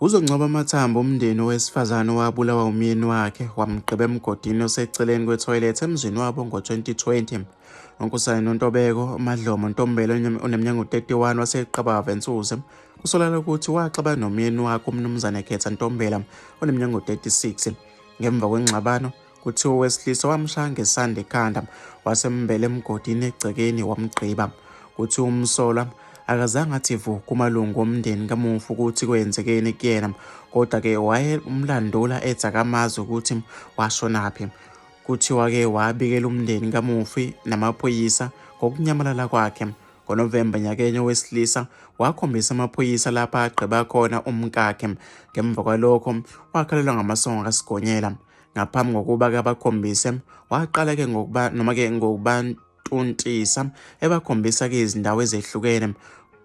Uzongcoba amathambo umndeni owesifazane owabulawa umyeni wakhe wamgqiba emgodini oseceleni kwethoyilethi emzini wabo ngo-2020. UNkosana Nontobeko Madlomo Ntombela oneminyaka u-31 waseQabava eNsuze kusolakala ukuthi waxaba nomyeni wakhe uMnumzane Khetha Ntombela oneminyaka u-36 ngemva kwengxabano Kuthiwa owesilisa wamshaya ngesanda ekhanda wasembela emgodini egcekeni wamgqiba. Kuthiwa umsolwa akazange athi vu kumalungu omndeni kamufi ukuthi kwenzekeni kuyena kodwa-ke wayemlandula ethi akamazi ukuthi washonaphi. Kuthiwa-ke wabikela umndeni kamufi namaphoyisa ngokunyamalala kwakhe. NgoNovemba nyakenye owesilisa wakhombisa amaphoyisa lapha agqiba khona umkakhe. Ngemva kwalokho wakhalelwa ngamasongo kaSigonyela. ngaphambi kokuba-ke abakhombise waqala-ke ngokuba noma-ke ngokubantuntisa ebakhombisa-ke izindawo ezehlukene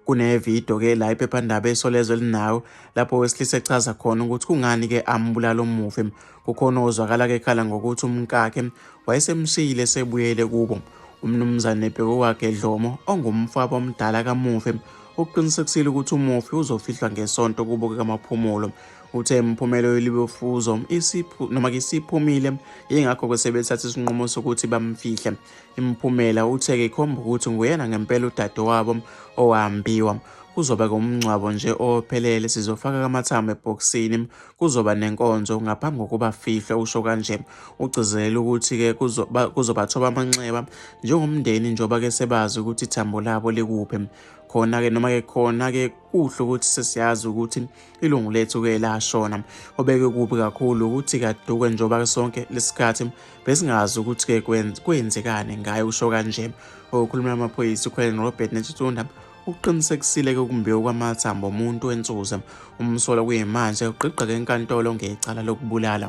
kunevidiyo-ke la iphephandaba esolezwe linayo lapho wesilisa echaza khona ukuthi kungani-ke ambulala umufi kukhona ozwakala-ke ekhala ngokuthi umkakhe wayesemshiyile esebuyele kubo umnumzane bheko wakhe dlomo ongumfabo omdala kamufi ukuqinisekisile ukuthi umufi uzofihlwa ngesonto kubo kamaphumulo Uthe imiphumela yolibofuzo isiphu noma ke isiphumile yingakho ke sebethatha isinqumo sokuthi bamfihle. Imiphumela uthe ke ikhomba ukuthi nguyena ngempela udadewabo owahambiwa. Kuzoba ke umngcwabo nje ophelele sizofaka kamathambo ebhokisini kuzoba nenkonzo ngaphambi kokuba fihlwe usho kanje. Ugcizelela ukuthi ke kuzoba kuzobathoba amanxeba njengomndeni njengoba ke sebazi ukuthi ithambo labo likuphi. Khona ke noma ke khona ke kuhle ukuthi sesiyazi ukuthi ilungu lethu-ke lashona obeke kubi kakhulu ukuthi kaduke njengoba sonke lesikhathi besingazi ukuthi-ke kwenzekani ngayo usho kanje okhulumela amaphoyisa ukhweleni robert netutunda ukuqinisekisile-ke ukumbiwa kwamathambo omuntu wensuze umsolo kuyimanje ugqigqeke enkantolo ngecala lokubulala